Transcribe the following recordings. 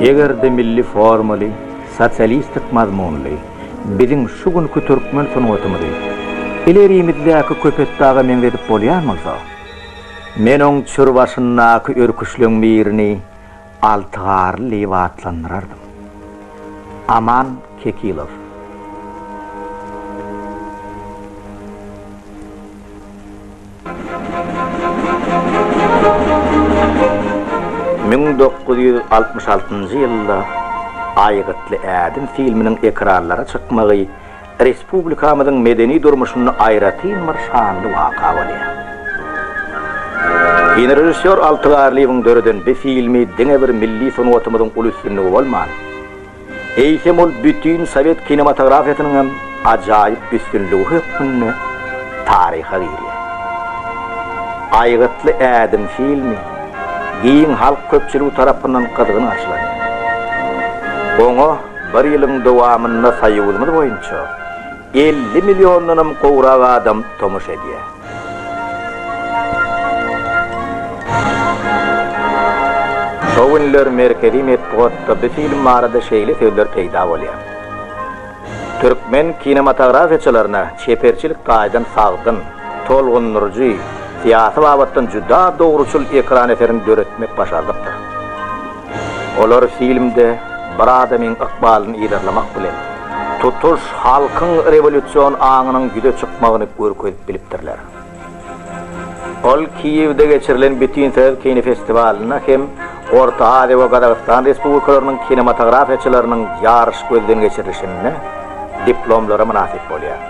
Eger-de milli formaly, sosialistik mazmunly biziň şu günki türkmen sungatymyzy ilerimizdäki Köpetdaga meňzedip bolýan bolsa, men oň çür başyndaky örküçleň birini Altygarly diýip atlandyrardym. Aman Kekilow. Müň dokuz ýüz altmyş altynjy ýylda Aýgytly ädim filminiň ekranlara çykmagy respublikamyzyň medeni durmuşynda aýratyn bir şanly waka bolýar. Kinorežissýor Alty Garlyýewiň döreden bi filmi diňe bir milli sungatymyzyň uly üstünligi bolman, Eýsem ol bütin sowet kinematografiýasynyň hem ajaýyp üstünligi hökmünde taryha girýär. Aýgytly ädim filmi giň halk köpçüligi tarapyndan gyzgyn garşylanýar. Oňa bir ýylyň dowamynda Soýuzymyz boýunça elli milliondanam gowrak adam tomaşa edýär. Şo günler merkezi metbugatda bu film barada şeýle sözler peýda bolýar, Türkmen kinematografiýaçylaryna çeperçilik taýdan sagdyn, tolgundyryjy, syýasy babatdan juda dogruçyl ekran eserini döretmek başardykdyr. Olar filmde bir adamyň ykbalyny yzarlamak bilen, tutuş halkyň rewolýusion aňynyň ýüze çykmagyny görkezip bilipdirler. Ol Kiýewde geçirilen Bütinsoýuz kinofestiwalynda hem Orta Aziýa we Gazagystan Respublikalarynyň kinematografiýaçylarynyň ýaryş gözden geçirilişinde diplomlara mynasyp bolýar.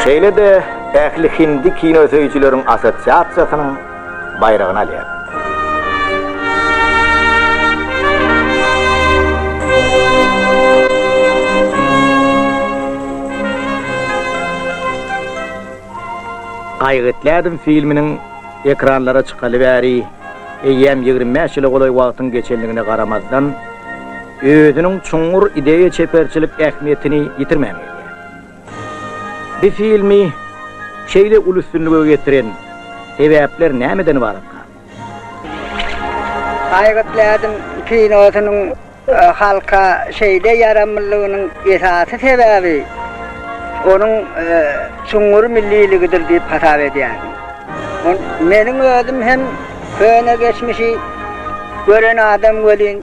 Şeýle-de ähli hindi kinosöýüjileriň assosiasiýasynyň, baýragyny alýar. Gaýgytlädim filminiň ekranlara çykaly bäri eýýäm ýigrimi bäş ýyla golaý wagtyň geçendigine garamazdan, özüniň çuňňur ideýa-çeperçilik ähmiýetini ýitirmän gelýär. Bu filmi şeýle uly üstünlige getiren sebäpler nämeden ybarat gal? Aýgyt Lädim kinosynyň halka şeýle ýaramlylygynyň esasy sebäbi onuň çuňňur milliligidir diýip hasap edýärin. Meniň özüm hem köne geçmişi gören adam welin,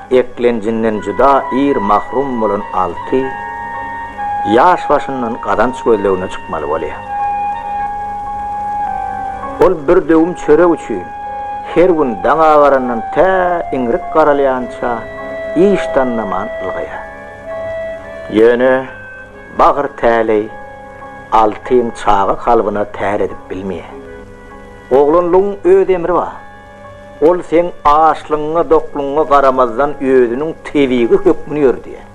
Eklenjinden juda ir mahrum bolan alty ýaş başyndan gazanç gözlegine çykmaly bolýar. Ol bir döwüm çörek üçin her gün daň agarandan tä iňrik garalýança iş tanlaman ylgaýar. Ýöne bagyr täleý altyň çaga kalbyna tär edip bilmeýär. Oglanlygyň öz emri bar. Ol seň açlygyňa, doklugyňa garamazdan özüniň tebigy hökmüni ýöredýär.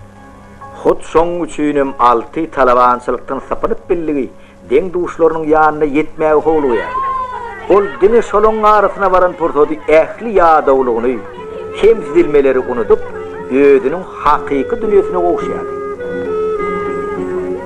Hut şoň üçin hem Alty talabançylykdan sypynyp billigi, deň-duşlarynyň ýanyna ýetmäge howlugýar. Ol diňe şolaryň arasyna baran pursady ähli ýadawlygyny, kemsidilmeleri unudyp, özüniň hakyky dünýesine gowuşýardy.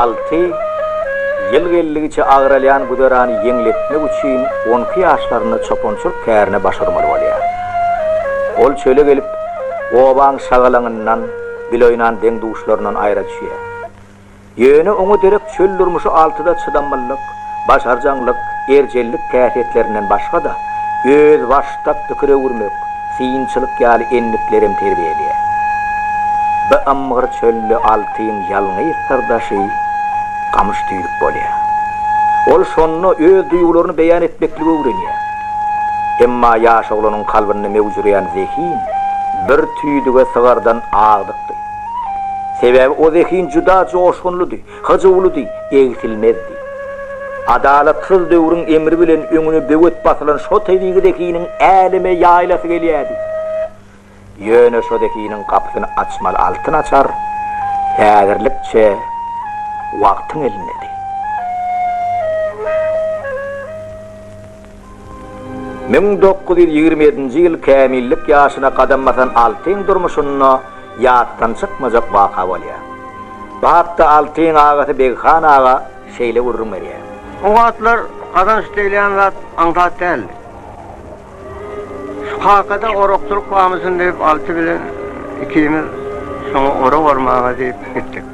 Alty ýyl geldigiçe agralýan güzerany ýeňletmek üçin on iki ýaşlarynda çopançylyk kärine baş urmaly bolýar. Ol çöle gelip, obaň şagalaňyndan, biloýnan deň-duşlaryndan aýra düşýär. Ýöne oňa derek çöl durmuşy altyda çydamlylyk, başarjaňlyk, erjellik häsiýetlerinden başga-da, özbaşdak pikir öwürmek, synçylyk ýaly endiklerem terbiýe edýär. Bu ymgyr çölde altyň ýalňyz syrdaşy gamyş tüýdük bolýar. Ol şonda öz duýgularyny beýan etmekligi öwrenýär. Emma ýaş oglanyň kalbynda möwjüreýän zehin bir tüýdüge sygardan agdykdy. Sebäbi o zehin juda joşgunlydy, hyjuwlydy, egsilmezdi. Adalatsyz döwrüň emri bilen öňüne böwet basylan şo tebigy zehiniň äleme ýaýlasy gelýärdi. Ýöne şo zehiniň gapysyny açmaly altyn açar häzirlikçe wagtyň elindedi. Müň dokuz ýüz ýigrimi ýedinji ýyl kämillik ýaşyna gadam basan Altyň durmuşynda ýatdan çykmajak waka bolýar. Bu hakda Altyň agasy Beghan aga şeýle gürrüň berýär. O wagtlar gazanç diýilýän zat aňsat däldi. Şu kakada orakçylyk bamyşyn diýip Alty bilen ikimiz şoňa orak ormaga diýip gitdik.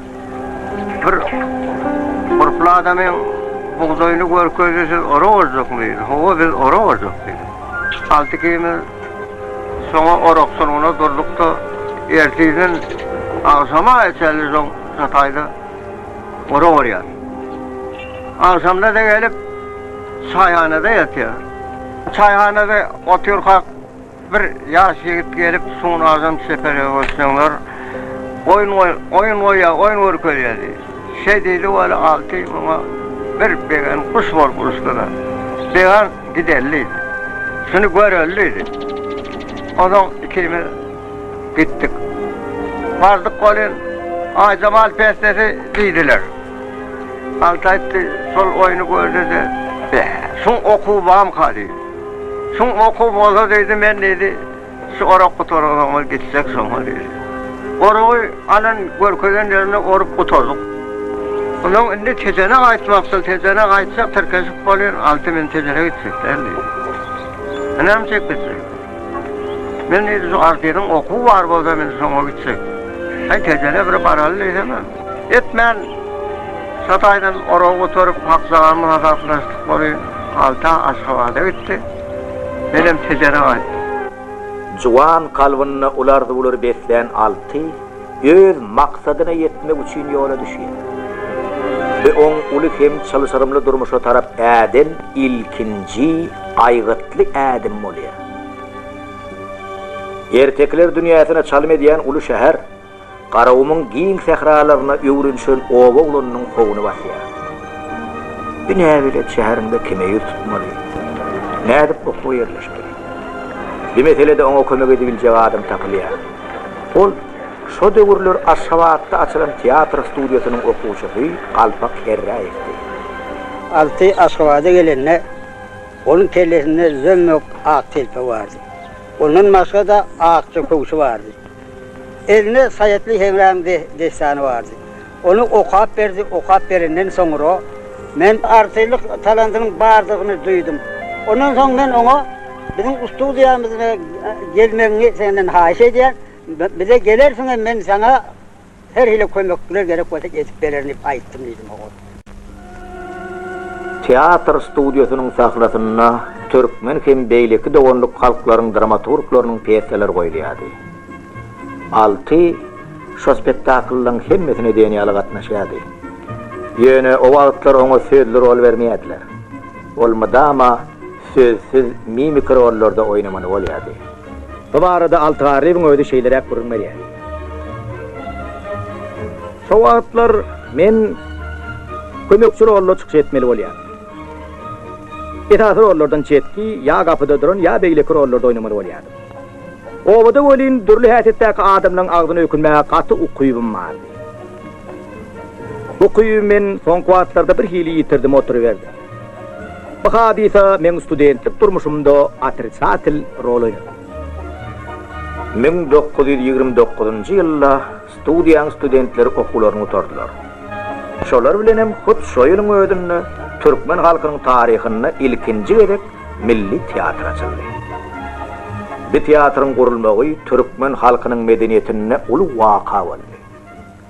Bir gurply adamyň bugdaýyny görkezdi, siz ora barjakmy diýdi. Hawa, biz ora barjak diýdim. Alty-ikimiz soňa orak sulgyna durduk-da, ertirden agşama çenli şo çataýda ora barýarys. Agşamda-da gelip, çaýhanada ýatýarys. Çaýhanada oturkak. Bir ýaş ýigit gelip sunardan çeperegi görseňler oýun goý oýun goýýa oýun görkezýä diý. Şeý diýdi weli Alty muňa bir begen guş bolup uçdy-da. Began gideli diýdi. Şuny göreli diýdi. Onsoň ikimiz gitdik. Bardyk welin Aýjemal pestesi diýdiler. Alty aýtdy şol oýny gördi-de, Beh, şuň okuwy bamyka diýdi. Şum okuw bolsa diýdi, men diýdi, şu orak gutaran soňra gitsek şoňa diýdi. Oragy alan görkezen ýerinde orup gutardyk. Onsoň indi Tejene gaýtmakçyl, Tejene gaýtsak tirkeşip bolýar, Alty men Tejene gitjek däl diýdi. Näme çek gitjek? Men diýdi, şu Altynyň okuwy bar bolsa men şoňa gitjek. Häý Tejene bir baraly diýsemem. Etmän, Çataýdan oragy gutarip, Hakjagamy hasaplaşdyk boly, Alta Aşgabada gitdi. Menem Tejere gaýtdym. Juwan kalbynda uly arzuwlary beslän Alty öz maksadyna ýetmek üçin ýola düşýär. Bu oň uly hem çylşyrymly durmuşa tarap äden ilkinji aýgytly ädimi bolýar. Ertekiler dünýäsine çalym edýän uly şäher. Garagumuň giň sähralaryna öwrenişen oba oglanynyň howuny basýar. Bu näbelet şäheriňde kime ýüz tutmaly? Nädip okuwa ýerleşmeli? Bu meselede oňa kömek edibiljek adam tapylýar. Ol, şo döwürler Aşgabatda açylan teatr studiýasynyň okuwçysy Galpak Herräýewdi. Alty Aşgabada gelende, onuň kellesinde zömmük ak telpek bardy. Ondan başga-da akja köwşi bardy. Eline Saýatly Heňräm dessany bardy. Ony okap berdi, okap berenden soňra men. Artistlik talantynyň bardygyny duýdum. Ondan soň men oňa biziň studiýamyza gelmegiňi senden haýyş edýän. Bize gelersiňem men saňa Her hili kömekler gerek bolsa edip bererin diýip aýtdym diýdi Mogot. Teatr studiýasynyň sahnasynda türkmen hem beýleki doganlyk halklaryň dramaturglarynyň pýesalar goýulýardy. Alty şo spektakllaryň hemmesine diýen ýaly gatnaşýardy. Ýöne o wagtlar oňa sözli rol bermeýärdiler. Ol mydama sözsüz mimiki rollarda oýnamaly bolýardy. Bu barada Altygarrybyň özi şeýleräk gürrüň berýär. Şo wagtlar men kömekçi rolda çykyş etmeli bolýar. Esasy rollardan çetki, ýa gapyda duran, ýa beýleki rollarda oýnamaly bolýardym. Obada welin dürli häsiýetdäki adamlaryň agzyna ökünmäge gaty ukybym bardy. Bu ukyby men soňky wagtlarda birhili ýitirdim oturyberdim. Bu hadysa meň studentlik durmuşymda otrisatel rol oýnady. Müň dokuz ýüz ýigrimi dokuzynjy ýylda studiýaň studentleri okuwlaryny gutardylar. Şolar bilenem hut şo ýylyň özünde türkmen halkynyň taryhynda ilkinji gezek milli teatr açyldy. Bu teatryň gurulmagy türkmen halkynyň medeniýetinde uly waka boldy.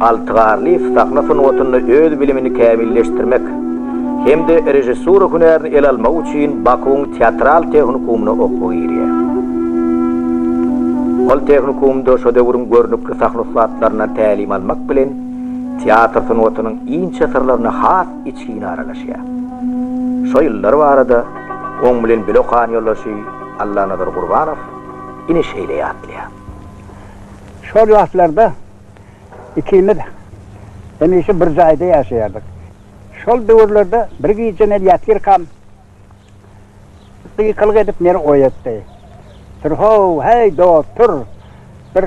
Alty Garlyýew sahna sungatynda öz bilimini kämilleşdirmek hem-de režissura hünärini ele almak üçin Bakuwyň teatral tehnikumyna okuwa girýär. Ol tehnikumda şo döwrüň görnükli sahna ussatlaryndan tälim almak bilen, teatr sungatynyň inçe syrlaryna has içgin aralaşýar. Şo ýyllar barada oň bilen bile okan ýoldaşy Allanazar Gurbanow ine şeýle ýatlaýar. Şol wagtlarda Ikimiz hemişe bir jaýda ýaşaýardyk. Şol döwürlerde bir gije meni ýatyrkam gykylyk edip meni oýatdy. Tur-how, heý, dost, tur! Bir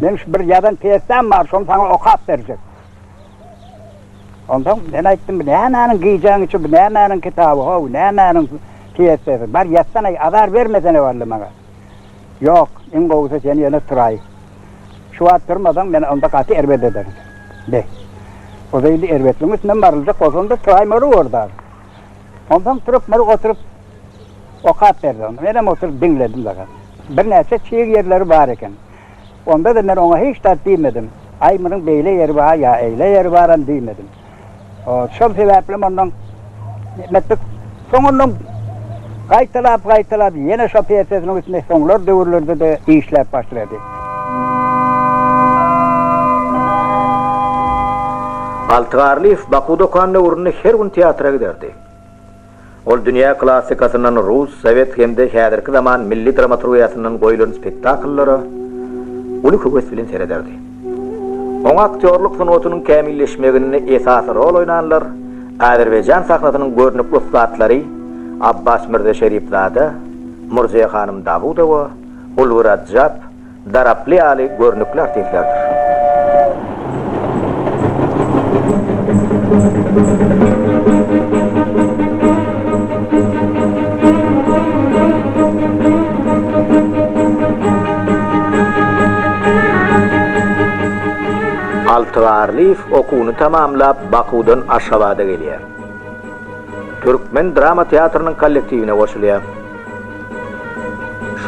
Meň şu bir ýazan pýesam bar, şony saňa okap berjek. Onsoň men aýtdym, bu nämäniň gijäň üçi, bu nämäniň kitaby, how, nämäniň pýesasy? Bar ýatsana, azar bermesene walla maňa. Ýok, iň gowusy sen ýene turaý. Şu wagt turmasaň, men onda gaty erbet ederin. Be. Oda indi erbetligiň üstünden baryljak bolsam-da turaý Mary ordagy. Onsoň turup Mary oturyp okap berdi onda. Menem oturyp diňledim daga. Birnäçe çig ýerleri bar eken. Onda-da men oňa hiç zat diýmedim. Aý, munuň beýle ýeri bar ýa eýle ýeri baram diýmedim. Şol sebäplem ondan etmedik. Soň ondan gaýtalap-gaýtalap ýene şo pýesesiniň üstünde soňlar döwürlerde-de işläp başlady. Altygarlyýew Baku dokan döwründe her gün teatra giderdi. Ol dünýä klassikasyndan rus, sowet hem-de häzirki zaman milli dramaturgiýasyndan goýlan spektakllara uly höwes bilen serederdi. Oňa aktýorlyk sungatynyň kämilleşmeginde esasy rol oýnanlar Azerbaýjan sahnasynyň görnükli ussatlary Abbas Mirza Şeripzada, Murziýa hanym Dawudowa, Ulgi Radjap, daraply ýaly görnükli artistlerdir. Altygarlyýew okuwyny tamamlap, Bakuwdan Aşgabada gelýär. Türkmen drama teatrynyň kollektiwine goşulýar.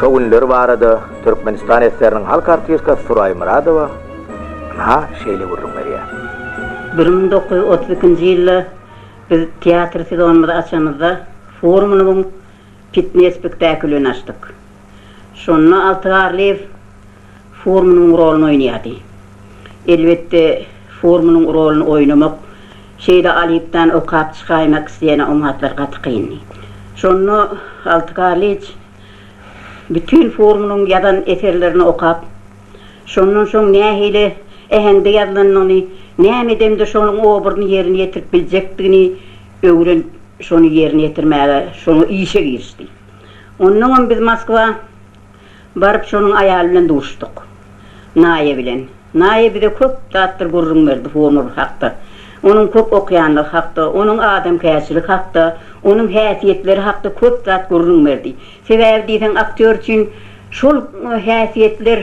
Şo günler barada. Türkmenistan eseriniň halk artistkasy Suraý Myradowa ynha şeýle gürrüň berýär. Bir müň dokuz ýüz otuz ikinji ýylda biz teatr sezonymyzy açanymyzda Furmanowyň Pitne spektakilyny açdyk. Şonda Alty Garlyýew Furmanowyň roluny oýnaýardy. Elbetde, Furmanyň roluny oýnamak şeýle Alypdan okap çykaýmak isleýän oňatlar gaty kyndy. Şonda Alty Garlyýew. Bütin forumynyň ýazan eserlerini okap, şondan soň nähili äheňde ýazylanyny, näme edemde şonuň obrazyny ýerine ýetirip biljekdigini öwrenip, şony ýerine ýetirmäge, şoňa işe girişdi. Onnoňam biz Moskwa baryp, şonuň aýaly bilen duşduk. Naýa bilen. Naýa bize köp zatlar gürrüň berdi Honur hakda. Onuň köp okýanlygy hakda, onuň adamkärçiligi hakda, onuň häsiýetleri hakda köp zat gürrüň berdi. Sebäbi diýseň aktýor üçin şol häsiýetler,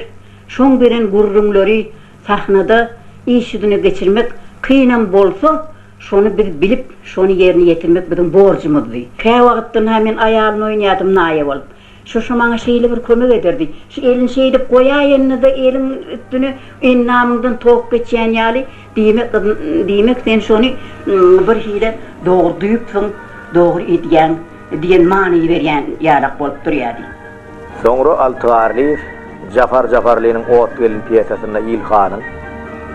şoň beren gürrüňleri sahnada iş ýüzüne geçirmek kynam bolsa, şony biz bilip, şony ýerine ýetirmek biziň borjumyzdy. Käwagtdan-ha men aýalyny oýnadym Naýa bolup. Şuşy maňa şeýle bir kömek ederdi. Şu elini şeýdip goýaýyny-da eliň üstüne endamyňdan tok geçýän ýaly, diýmek, gyzym, diýmek sen şony birhili dogry duýupsyň, dogry edýäň diýen many berýän ýalak bolup durýardy. Soňra Alty Garlyýew Jafar Jafarlynyň Ot gelin pýesasynda Ilhanyň,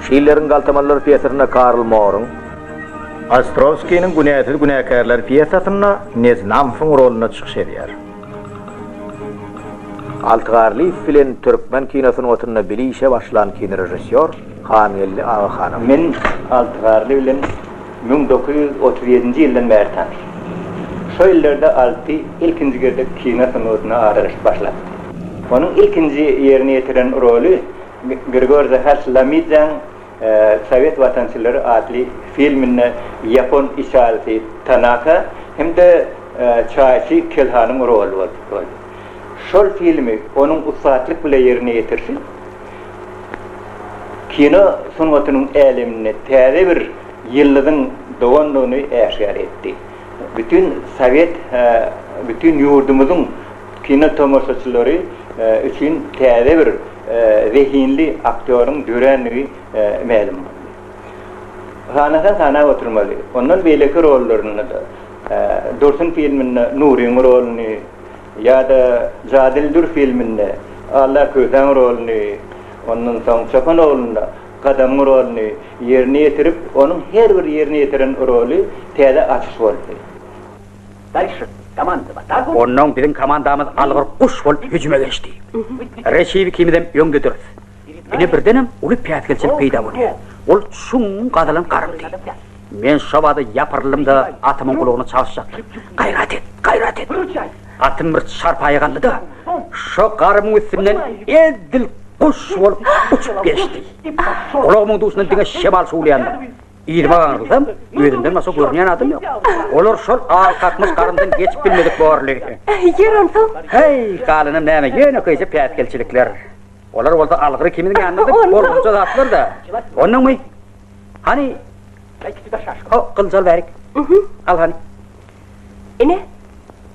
Şilleriň Galtamanlar pýesasynda Karl Moryň, Ostrowskiniň Günäsiz günäkärler pýesasynda Neznamsowyň rolunda çykyş edýär. Alty Garlyýew bilen türkmen kino sungatynda bile işe başlan kinorežissýor Hangeldi Agahanow. Men Alty Garly bilen müň dokuz ýüz otuz ýedinji ýyldan bäri tanyş. Şo ýyllarda Alty ilkinji gezek kino sungatyna aralaşyp başlapdy. Onuň ilkinji ýerine ýetiren roly Grigorza Haşlamidzeň Sowet watançylary atly filminde ýapon içalysy Tanaka hem-de çaýçy Kelhanyň roly bolupdyr. Şol filmi onuň ussatlyk bilen ýerine ýetirişi kino sungatynyň äleminde täze bir ýyldyzyň dogandygyny äşgär etdi. Bütin sowet bütin ýurdumyzyň kino tomaşaçylary üçin täze bir zehinli aktýoryň dörändigi mälim boldy. Sanasa sanap oturmaly, ondan beýleki rollarynda-da, Dursun filminde Nuryň roluny ýa-da Jadyly dür filminde Alla Kösäň roluny, ondan soň Çopan oglunda Gadamyň roluny ýerine ýetirip, onuň her bir ýerine ýetiren roly täze açyş boldy. Daýşy, komandy bar. Onnoň biziň komandamyz algyr guş bolup hüjüme geçdi. Reçew ikimizem öňde durus. Ine birdenem uly päsgelçilik peýda bolýar. Ol çuň gazylan garymty. Men şo bada ýapyryldym-da atymyň gulagyna çalyşjakdym. Gaýrat et, gaýrat et! Atym bir çarpaýa galdy-da, şo garymyň üstünden edil guş bolup uçup geçdi. Gulagymyň duşundan diňe şemal şuwlaýandyr. Ýyly bagyňyzam özünden başga görünýän adam ýok. Olar şol al kakmyş garyndan geçip bilmedik borly. Ýer onsoň? Heý, galanam näme, ýönekeýje päsgelçilikler. Olar bolsa algyr ikimiziň ýanymyzda bolgunja zatlar-da. Onnoňmy? Hany, o gylyjy al bärik. Al hany. Ine,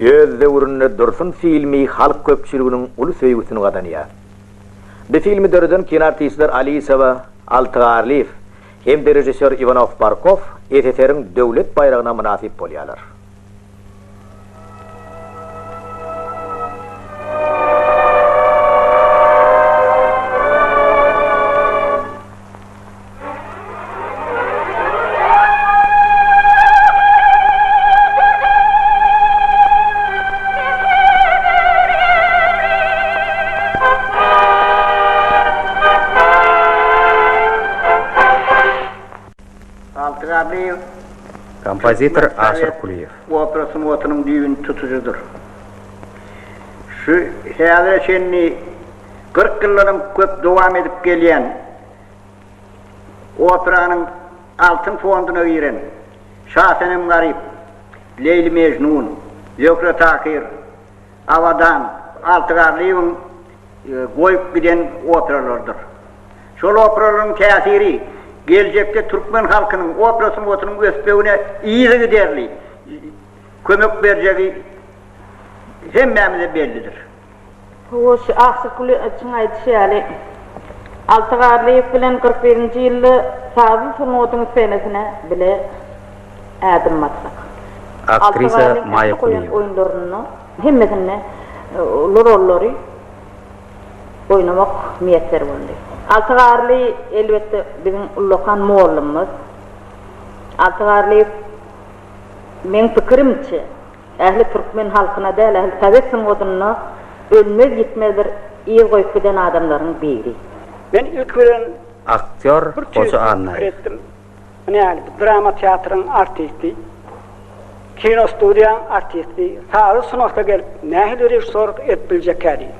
Öz döwründe Dursun filmi halk köpçüliginiň uly söýgüsini gazanýar. Bu filmi döreden kinoartistler Alisowa, Altygarlyýew hem-de režissýor Iwanow-Barkow SSR-iň Döwlet baýragyna mynasyp bolýarlar. Kompozitor Aşyr Kulyýew. Opera sungatynyň düýbüni tutujydyr. Şu häzire çenli Kyrk ýyldan köp dowam edip gelýän operanyň altyn fonduna giren Şasenem Garyp, Leýli Mejnun, Zöhre Takyr, Abadan, Alty Garlyýewiň goýup giden operalarydyr. Şol operalaryň täsiri geljekde türkmen halkynyň opera sungatynyň ösmegine yzygiderli kömek berjegi hemmämize bellidir. Hoş, Aşyk Güleçiň aýdyşy ýaly, Alty Garlyýew bilen kyrk birinji ýylda sazly sungatyň senesine bile ädim basdyk. Alty Garlyň ähli goýan oýunlarynda hemmesinde uly rollary oýnamak miýesser boldy. Alty Garly, elbetde, biziň ullakan mugallymymyz. Alty Garlyýew, meň pikirimçe. Ähli türkmen halkyna däl, ähli sowet sungatyna ölmez-ýitmez bir yz goýup giden adamlaryň biri. Men ilki bilen Aktýor bir tüýs Hoja Annaýew. pikir etdim. Ine ýaly bir drama teatryň artisti, kino studiýaň artisti sazy sunagta gelip nähili režissýorlyk edip biljekä diýip.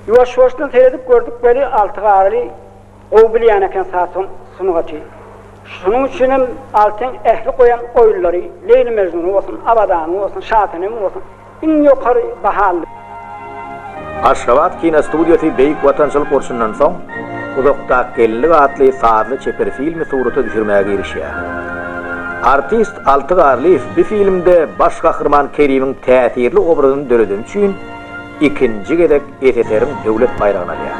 Ýuwaş-ýuwaşdan seredip gördük weli Alty Garyly Gowy bilýän eken sazhon sungaty. Şonuň üçinem Altyn ähli goýan oýunlary, Leýli Mejnuny bolsun, Abadany bolsun, Şasenemi bolsun, iň ýokary baha aldy. Aşgabat kinostudiýasy Beýik Watançylyk urşundan soň Uzakdaky geldik atly sazly çeper filmi surata düşürmäge girişýär. Artist Alty Garlyýew bu filmde baş gahryman Kerimiň täsirli obrazyny döredeni üçin ikinji gezek SSR-iň Döwlet baýragyny alýar.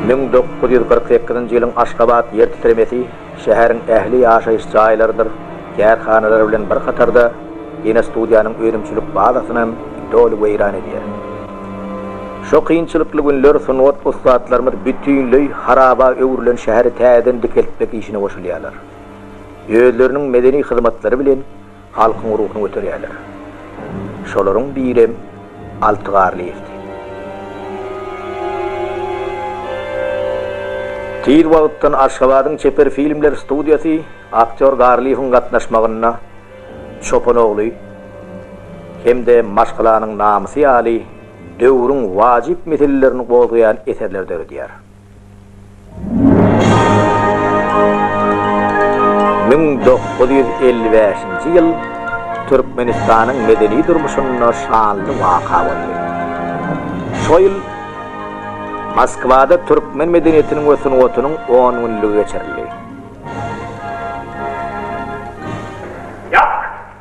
Müň dokuz ýüz kyrk sekizinji ýylyň Aşgabat ýer titremesi şäheriň ähli ýaşaýyş jaýlarydyr kärhanalary bilen bir hatarda kinostudiýanyň önümçilik bazasynam doly weýran edýär. Şo kynçylykly günler sungat ussatlarymyz bütinleý haraba öwrülen şäheri täzeden dikeltmek işine goşulýarlar. Özleriniň medeni hyzmatlary bilen Halkyň ruhuny göterýärler. Şolaryň birem Alty Garlyýewdi. Tiz wagtdan Aşgabadyň çeper filmler studiýasy aktýor Garlyýewiň gatnaşmagynda Çopan ogly hem-de Maşgalanyň namysy ýaly döwrüň wajyp meselelerini gozgaýan eserleri döredýär. Müň dokuz ýüz elli bäşinji ýyl Türkmenistanyň medeni durmuşynda şanly waka boldy. Şo ýyl Moskwada türkmen medeniýetiniň we sungatynyň on günlügi geçirildi.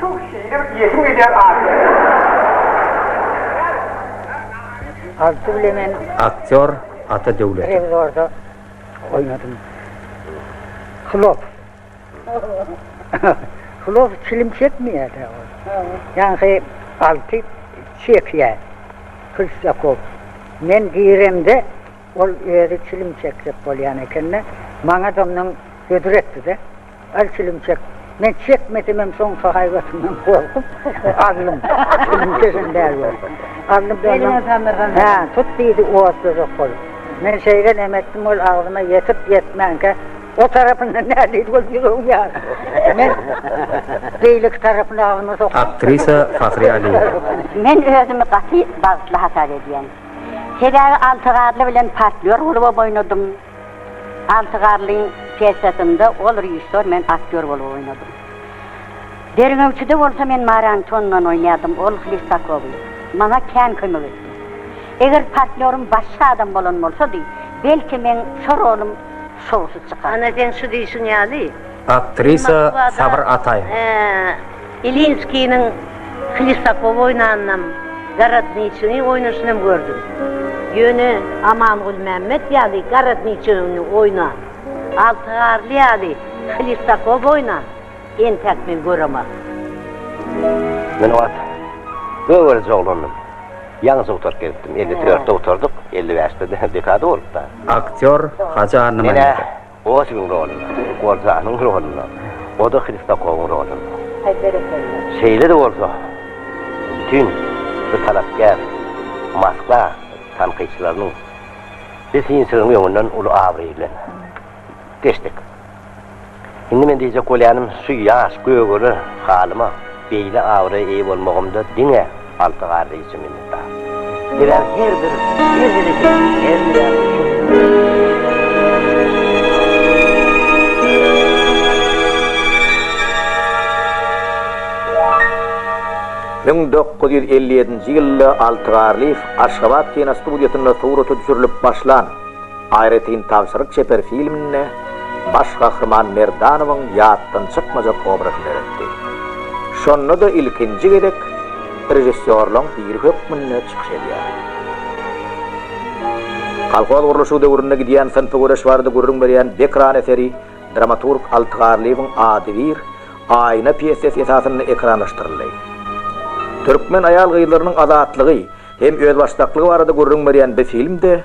Tuh şigirim iýesim gelýär ahyry. Alty bilemen aktýor Ata Döwletow. Rewizorda oýnadym. Hlops. Hlops çilim çekmeýär-dä ol. Ýaňky Alty çekýär. Hristýakow. Men giremde ol özi çilim çekjek bolýan eken-de, maňa domdan hödür etdi-de. Al çilim çek. Men çekmesemem soňky haýbatymdan gorkup, aldym. Çilim çeken däl bu. Aldym da ondan. Hä, tut diýdi otlajak bolup. Men şeýle nem etdim, ol agzyma ýetip-ýetmänkä, o tarapyndan nä diýdi bolup ýüregiň ýaryp. Men beýleki tarapyny agzyma sokdum. Aktrisa Fahriýe Aliýewa. Men özümi gaty bagtly hasap edýän. Sebäbi alty garly bilen partnýor bolup oýnadym. Alty garlyň pýesasynda ol režissýor, men aktýor bolup oýnadym. Derňewçide bolsa men Mary Antonyndan oýnadym, ol Hlistakowy. Maňa kän kömek etdi. Eger partnýorym başga adam bolan bolsady, belki, meň şo rolum şowsuz çykardy. Ana, seň şu diýşiň ýaly. Aktrisa Sabyr Ataýewa. Moskwa-da Ilinskiniň Hlistakowy oýnanynam, Gorodniçini oýnaşynam gördüm. Ýöne Aman Gulmämmet ýaly Gorodniçini oýnan, Alty Garly ýaly Hlistakowy oýnan entäk men göremaryn. Men o wagt göwrelije oglandym. Ýaňy dugtaryp gelipdim. Elli dörtde gutardyk, elli bäşde dekada bolupdy. Aktýor Hajy Annamyradow. Otigiň rolunda, Goljanyň rolunda, o-da Hristakowyň rolunda. Haý, berekella! Şeýle-de bolsa, bütin bu talapkär Moskwa tankytçylarynyň biz synçylygyň öňünden uly abraý bilen geçdik. Indi men diýjek bolýanym, şu ýaş, gögele halyma beýle abraya eýe bolmagymda diňe. Alty garda içi minnetdar. Bilen her bir her hereketini her Müň dokuz ýüz elli ýedinji ýylda Alty Garlyýew Aşgabat kinostudiýasynda surata düşürilip başlan, Aýratyn tabşyryk çeper filminde baş gahryman Merdanowyň ýatdan çykmajak obrazyny döretdi. Şonda-da ilkinji gezek režissýorlaryň biri hökmünde çykyş edýär. Kolhoz gurluşygy döwründe gidýän synpy göreş barada gürrüň berýän Bekran eseri dramaturg Alty Garlyýewiň Ady bir, Aýna pýessesi esasynda ekranlaşdyryldy. Türkmen aýal-gyzlarynyň azatlygy hem özbaşdaklygy barada gürrüň berýän bi film-de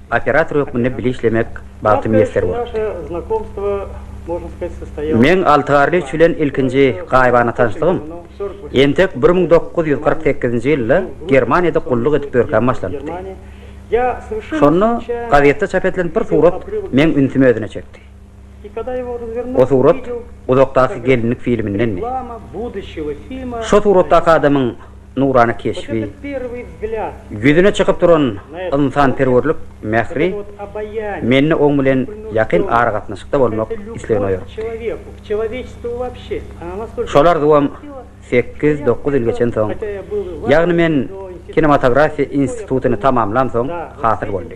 Operator hökmünde bile işlemek bagty miýesser bolupdy. Meň Altygarly üçi bilen ilkinji gaýybana tanyşlygym entek bir müň dokuz ýüz kyrk sekizinji ýylda Germaniýada gulluk edip ýörkäm başlanypdy. Şonda gazetde çap edilen bir surat meň ünsümi özüne çekdi. O surat Uzakdaky gelinlik filmindendi. Şo suratdaky adamyň nurana keşbi, ýüzüne çykyp duran ynsanperwerlik mähri mende oň bilen ýakyn aragatnaşykda bolmak islegini oýartdy. Şol arzuwam sekiz-dokuz ýyl geçen soň, ýagny men kinematografiýa institutyny tamamlansoň hasyl boldy.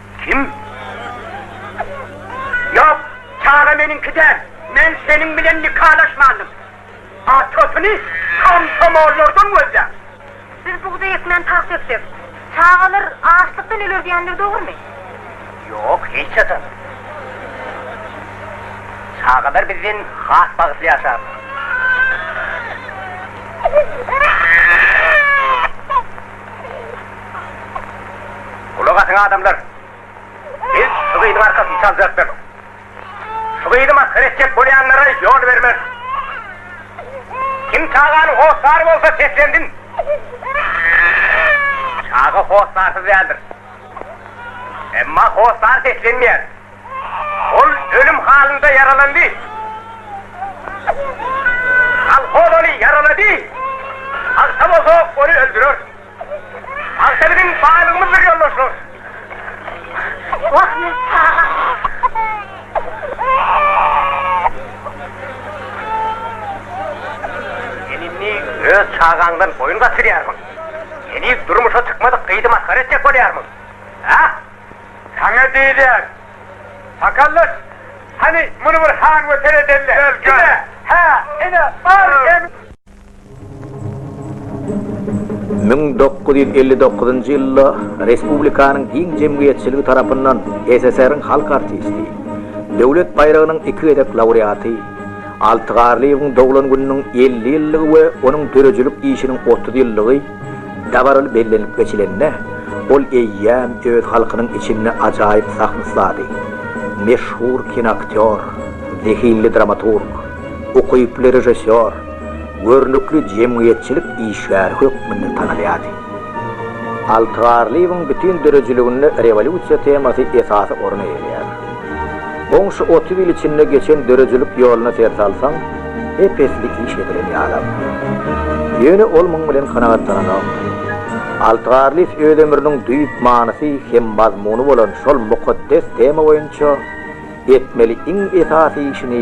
Kim? Ýok, çaga meniňki däl. Men seniň bilen nikalaşmandym. Atasyny komsomollardan gözläň. Biz bugdaý ekmän tagt döksek, çagalar açlykdan öler diýenler dogrumy? Ýok, hiç haçan. Çagalar bizden has bagtly ýaşarlar. Gulak asyň adamlar! Biz şu gyzyň arkasyny çaljakdyr. Şu gyzy masgara etjek bolýanlara ýol bermez. Kim çaganyň hossary bolsa seslensin! Çaga hossarsyz däldir. Emma hossar seslenmeýär. Ol ölüm halynda ýaralandy. Kolhoz ony ýaralady. Pagta bolsa ony öldürer. Pagta biziň baýlygymyzdyr, ýoldaşlar. Ahmet aga. Sen indi öz çagaňdan boýun gaçyrýarmyň? Heniz durmuşa çykmadyk gyzy masgara etjek bolýarmyň? Hä? Saňa diýilýär, Sakaldaş, hany, muny bir han we seredeli. Ine, hä, ine, bar hem. Müň dokuz ýüz elli dokuzynjy ýylda respublikanyň giň jemgyýetçiligi tarapyndan SSR-iň halk artisti, Döwlet baýragynyň iki gezek laureaty, Alty Garlyýewiň doglan gününiň elli ýyllygy we onuň döredijilik işiniň otuz ýyllygy, Dabaraly bellenilip geçilende, ol eýýäm öz halkynyň içinde ajaýyp sahna ussady, meşhur kinoaktýor, zehinli dramaturg, ukyply režissýor, görnükli jemgyýetçilik işgäri hökmünde tanalýardy. Altygarlyýewiň bütin döredijiliginde rewolýusiýa temasy esasy orun eýeleýär. Goňşy otuz ýyl içinde geçen döredijilik ýoluna ser salsaň, ep-esli iş edilen ýalam. Ýöne ol muň bilen kanagatlananokdy. Altygärlyýew öz ömrüniň düýp manysy hem mazmuny bolan şol mukaddes tema boýunça etmeli iň esasy işini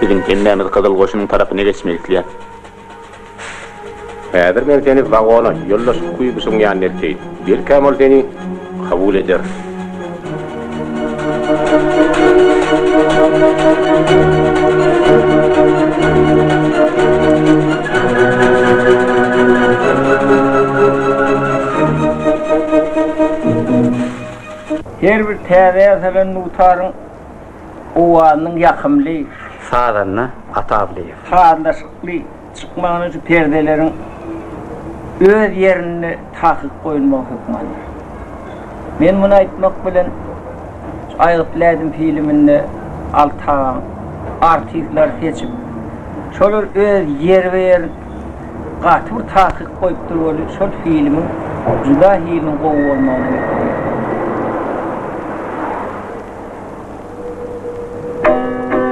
Biziň kellämiz Gyzyl goşunyň tarapyna geçmek isleýär. Häzir men seni wagona, ýoldaş Kuýbyşyň ýanyna elteýin. Belkäm ol seni kabul eder. Her bir täze ýasalan dutaryň owazynyň ýakymly. Sazanda Atawlyýew. Sazlaşykly. çykmagyny şu perdeleriň öz ýerinde takyk goýulmagy hökmüne alýar. Men muny aýtmak bilen, şu Aýgytly ädim filminde Alty agaň artistlary seçip, şolar öz ýerbe-ýerin gaty bir takyk goýupdyr weli, şol filmiň juda hiliniň gowy bolmagyna hökmüne alýar.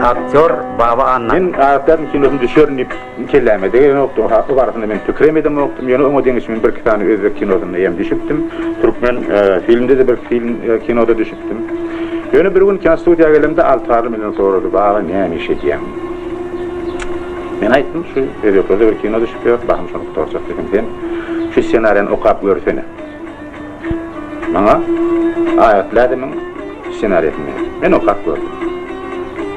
Aktýor Baba Anna. Men Aktýaryň kinosyna düşerin diýip kelläme degenokdy. Haky barasynda men pikir hem edemokdym. Ýöne oňa deňeş men birki sany özbek kinosynda hem düşüpdim. Türkmen filmde-de birki film kinoda düşüpdim. Ýöne bir gün kinostudiýa gelemde Altygarly menden sorady, Baba näme iş edýäň? Men aýtdym, şu özbeklerde bir kino düşüp ýör, bahym şony gutarjak diýdim. Sen şu ssenariýany okap görsene. Maňa Aýat Lädemiň ssenariýasyny ber. Men okap gördüm.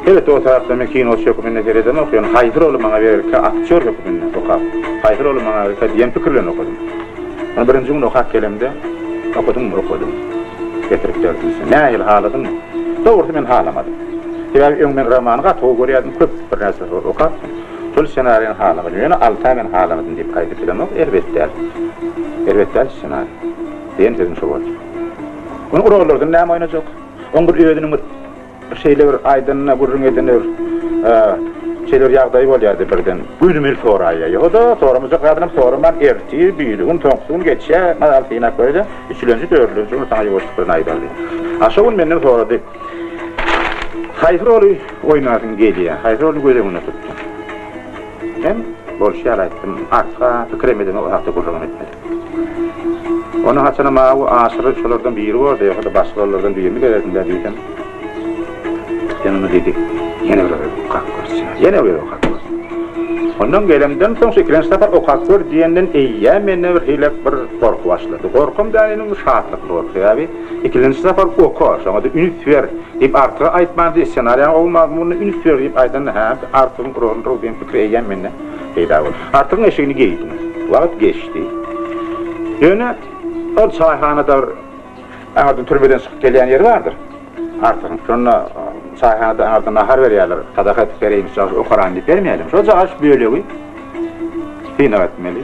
Sebet o tarapda men kino hökmünde seredemok, ýöne haýsy roly maňa berilkä aktýor hökmünde okap, haýsy roly maňa berilkä diýen pikir bilen okadym. Ony birinji gün okap gelemde, Okadyňmy? Okadym. Getirip berdim sen. Nähili, haladyňmy? Dogrusy men halamadym. Sebäbi öň men romany gaty gowy görýärdim, köp birnäçe rol okapdym. Şol ssenariýany haladym, ýöne alty aý men haladym diýip gaýdyp bilemok, erbet däl. Erbet däl ssenariý. Diýen sözüm şo boldy. Ony urarlardan näme oýnajak? Oň bir özüniň bir şeýle bir aýdanyna, gürrüň edene bir şeýle bir ýagdaýy bolýardy birden. Gönümel soraýýar. Ýoga-da, soramajak zadynam soraman, ertir, biri gün, soňky gün geçýär. Mazaly synap göreli. Üçülenji, dördülenji gün saňa ýuwaşlyk bilen aýdardy. A şo gün menden sorady. Haýsy roly oýnasyň gelýär? Haýsy roly göz öňünde tutdyň? Men bolşy ýaly aýtdym. Artykra pikirem edemok, o hakda gürrüňem etmedim. Ony haçanam awy aşyry şolardan biri boldy, ýogsa-da başga rollardan birini bererdim-dä diýsem, Sen ony diýdi, ýene bir gezek okap görseň. Ýene bir gezek okap görseň. Ondan gelemden soň, şu ikilenji sapar okap gör diýenden eýýäm mende birhili bir gorky başlady. Gorkam däl indi, şatlyk gorky. Sebäbi. Ikilenji sapar oka, şoňa-da üns ber! diýip Artyga aýtmandy, ssenariýaň gowy mazmunyna üns ber diýip aýdanda, hä-ä-ä, Artygyň uragyny ur diýen pikir eýýäm mende peýda boldy. Artygyň eşigini geýdim. Wagt geçdi. Ýöne ol çaýhanada bir aňyrdan türmeden çykyp gelýän ýeri bardyr Artygyň. Şonda çaýhanada aňyrdan nahar berýärler, sadaka edip bereýinçi, okaran diýip bermeýärler. Şojagaç bölegi synag etmeli.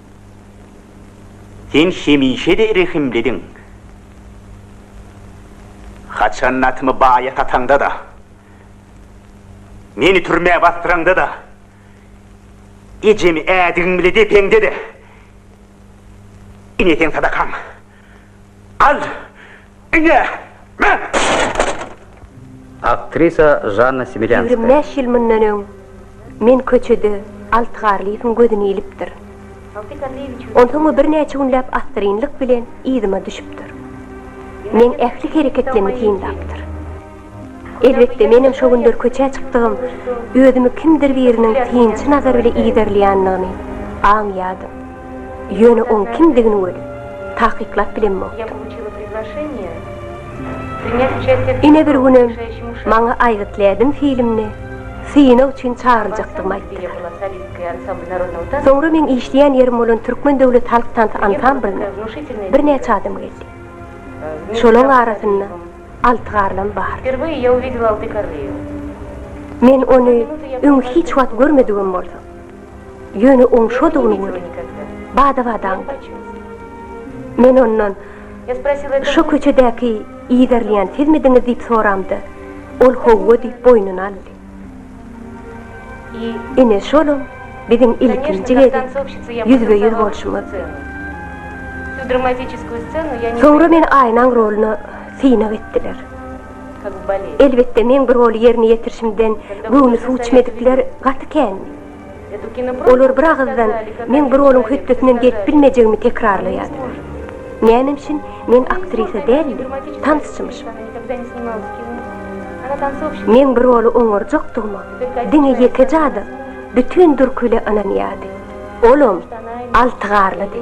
Sen hemişe-de rehimlidiň. Haçan atymy baýa sataňda-da, meni türmä basdyraňda-da, ejemi ädigiň bile depeňde-de, ine seň sadakaň. Al! Aktrisa Žanna Semilýanskaýa. Ýigrimi bäş ýyl mundan öň men köçede Alty Garlyýewiň gözüni ilipdir. Onsoň o birnäçe günläp assyrynlyk bilen yzyma düşüpdir. Meň ähli hereketlerimi synlapdyr. Elbetde, menem şo günler köçä çykdygym, özümi kimdir biriniň synçy nazary bile yzarlaýandygyny aňýardym. Ýöne oň kimdigini welin, takyklap bilemmokdym. Ine bir günem maňa Aýgyt Lädim filmine synag üçin çagyryljakdygymy aýtdylar. Soňra meň işleýän ýerim bolan Türkmen döwlet halk tansy ansamblyna birnäçe adam geldi. Şolaň arasynda Alty garlam bar. Wperweye ya uwidela alty karlio. Men ony öň hiç wagt görmedigim bolsa. Ýöne oň şodugyny gördüm. Bada-bat aňdym. Men ondan, Şo köçedäki yzarlaýan sizmidiňiz diýip soramda, ol howwa diýip boýnuny aldy. Ine şolam biziň ilkinji gezek ýüzbe-ýüz bolşumyzdy. Soňra meni Aýnaň roluna synag etdiler. Elbetde, meň bu roly ýerine ýetirişimden göwni suw içmedikler gaty kändi. Olar bir agyzdan meň bir onuň hötdesinden gelip bilmejegimi tekrarlaýardylar. Näme üçin men aktrisa däl-de, tansçymyşym? Men bir oly oňarjakdygyma diňe ýekeje adam, bütin Dürküli ynanýardy. Olam Altygarlydy.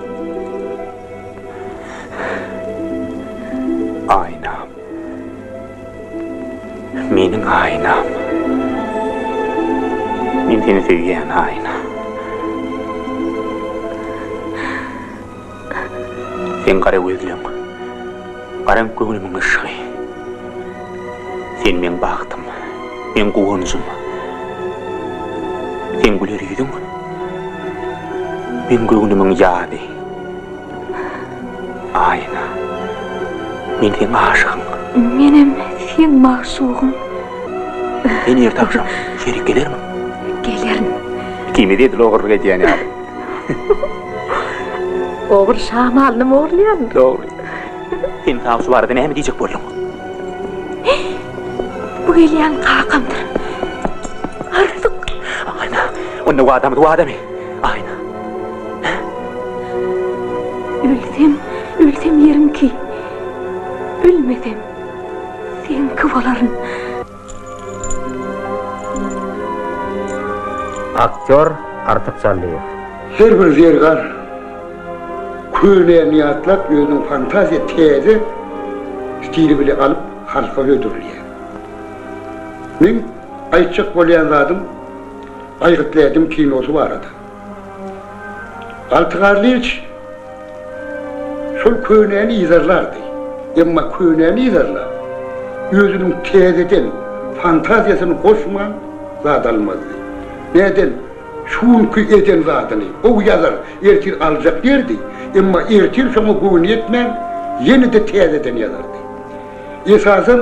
Aýnam. Meniň aýnam. Men seni söýýän aýna. Seň gara gözleň. Garan göwnümiň yşgy. Sen meň bagtym, meň guwanjym. Seň güler ýüzüň, meň göwnümiň ýazy. Aýna, men seň aşygyň. Menem seň magşugyň. Sen ýerde agşam şerik gelermiň? Gelerin. Ikimiz edil ogurlyk edýän ýaly. Ogry şamalynam ogurlaýaryn. Dogry. Sen saňa şu barada näme diýjek bolduň? Bu gelýän kakamdyr. Arzyk. Aýna, onda wadamyz wadamy? Aýna. Ölsem, ölsem ýeriňki. Ölmesem, seňki bolaryn. Aktýor Artyk Jallyýew. Her bir zergar köneýini ýatlap, özüniň fantaziýa täze stili bile alyp halka hödürleýär. Meň aýtjak bolýan zadym Aýgytly ädim kinosy barada. Alty garlyç şol könäni yzarlardy. Emma könäni yzarlap, özüniň täzeden fantaziýasyny goşman zat almazdy. Nädel, şu günki eden zadyny gowy ýazar, ertir aljak diýerdi, emma ertir şoňa göwni ýetmän, ýene-de täzeden ýazardy. Esasan,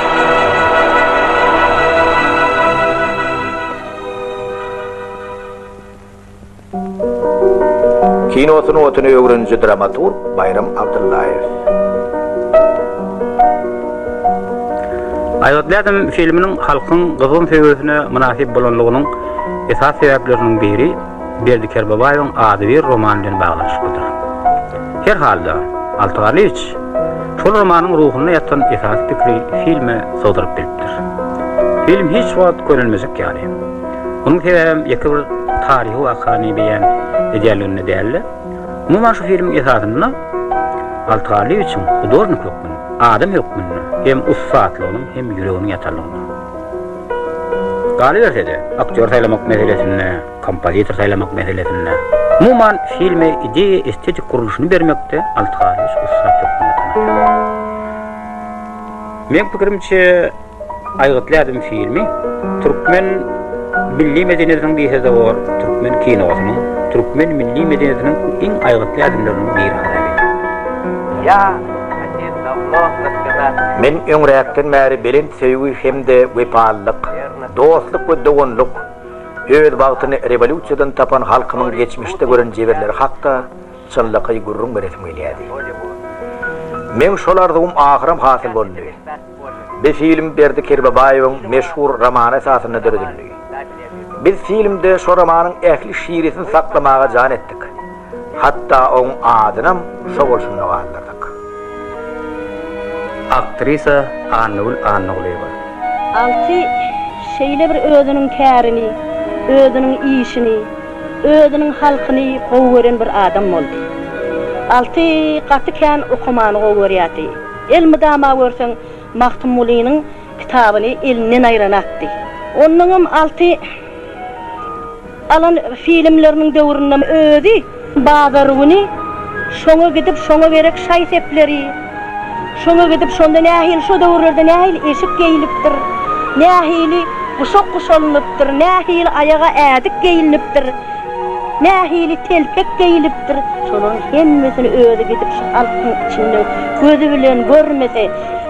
Kino sungatyny öwreniji dramaturg Baýram Abdyllaýew. Aýgytly adam filminiň halkyň gyzgyn söýgüsine mynasyp bolanlygynyň esasy sebäpleriniň biri, Berdi Kerbabaýewiň ady bir roman bilen baglanyşyklydyr. Her halda, Alty Galyç şol romanyň ruhunda ýatan esasy pikiri filme sygdyryp bilipdir. Film hiç wagt körülmejek ýaly. Munuň sebäbem ýeke bir taryhy wakany beýan edýänliginde däldi. Umuman şu filmiň esasynda Alty Galyçyň hudornik hökmünde, adam hökmünde hem ussatlygynyň hem ýüreginiň ýatanlygynda. Galyberse-de, aktýor saýlamak meselesinde, Kompozitor saýlamak meselesinde, umuman, filme ideýa-estetik gurluşyny bermekde Alty Garlyç ussat hökmünde tanalýar. Meň pikirimçe, Aýgytly ädim filmi türkmen milli medeniýetiniň bisazowar türkmen kinosynyň, türkmen milli medeniýetiniň iň aýgytly ädimleriniň biri hasap edýär. Men öňräkden bäri belent söýgi hem-de wepalylyk, dostluk we doganlyk, Öz bagtyny rewolýusiýadan tapan halkymyň geçmişde gören jebirleri hakda çynlakaý gürrüň beresim gelýärdi. Meň şol arzuwym ahyram hasyl boldy. Bi film Berdi Kerbabaýewiň meşhur romany esasynda döredildi. Biz filmde şo romanyň ähli şirisini saklamaga jan etdik. Hatda oň adynam şo bolşunda galdyrdyk. Aktrisa Annagül Annagulyýewa. Alty şeýle bir özüniň kärini, özüniň işini, özüniň halkyny gowy gören bir adam boldy. Alty gaty kän okamany gowy görýärdi. Elmydama görseň Magtymgulynyň kitabyny elinden aýranakdy. Onnoňam Alty. Alan filmleriniň döwründe özi bazar güni şoňa gidip şoňa gerek şaý sepleri, şoňa gidip şonda nähili şo döwürlerde nähili eşik geýilipdir, nähili guşak guşalynypdyr, nähili aýaga ädik geýilnipdir, nähili telpek geýilipdir, şolaryň hemmesini özi gidip şu halkyň içinde gözi bilen görmese,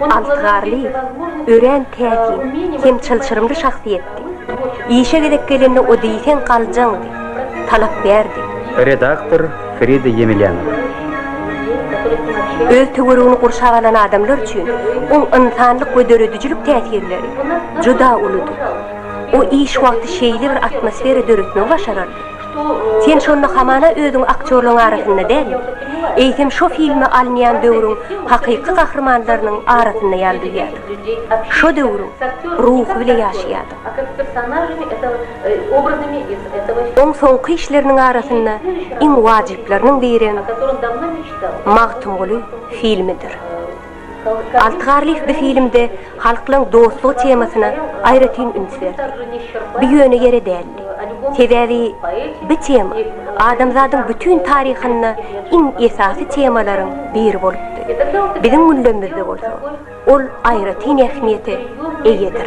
Altgarly, örän täsin hem çylşyrymly şahsyýetdi. Işe gezek gelende o diýseň galjaňdy, talapbärdi. Redaktor Frida Ýemelýanowa. Öz töweregini gurşap alan adamlar üçin oň ynsanlyk we döredijilik täsirleri juda uludy. O iş wagty şeýle bir atmosfera döretmegi başarardy. Sen şonda hamana özüňi aktýorlaryň arasynda däl, eýsem şo filme alynýan döwrüň hakyky gahrymanlarynyň arasynda ýaly duýýardyň. Şo döwrüň ruhy bile ýaşaýardyň. Oň soňky işleriniň arasynda iň wajyplarynyň birem Magtymguly filmidir. Alty Garlyýew bu filmde halklaryň dostlugy temasyna aýratyn üns berdi. Bu ýöne ýere däldi. Sebäbi bu tema adamzadyň bütin taryhynda iň esasy temalaryň biri bolupdy. Biziň günlerimizde bolsa ol aýratyn ähmiýete eýedir.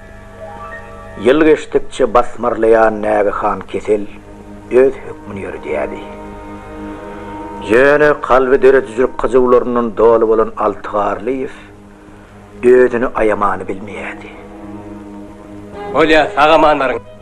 Ýyl geçdikçe basmarlaýan nägehan kesel öz hökmüni ýöredýärdi. Ýöne kalby döredijilik gyjywlaryndan doly bolan Alty Garlyýew özüni aýamany bilmeýärdi. Bolýa, sag-amanlaryň!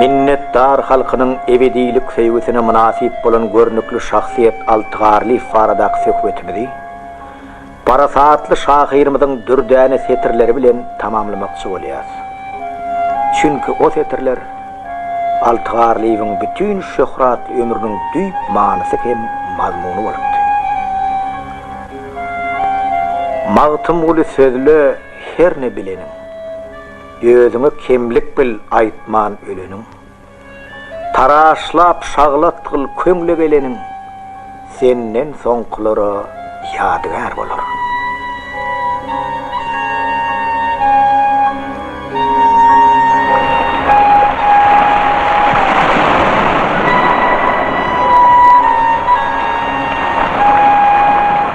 Minnetdar halkynyň ebedilik söýgüsine mynasyp bolan görnükli şahsyýet Alty Garlyýew baradaky söhbetimizi parasatly şahyrymyzyň dürdäne setirleri bilen tamamlamakçy bolýarys. Çünki o setirler Alty Garlyýewiň bütin şöhratly ömrüniň düýp manysy hem mazmuny bolupdy. Magtymguly sözle, herne bileniň, Özüňe kemlik bil aýtman öleniň. Taraşlap şaglat gyl köňle geleniň, Senden soňkulara ýadygär bolar.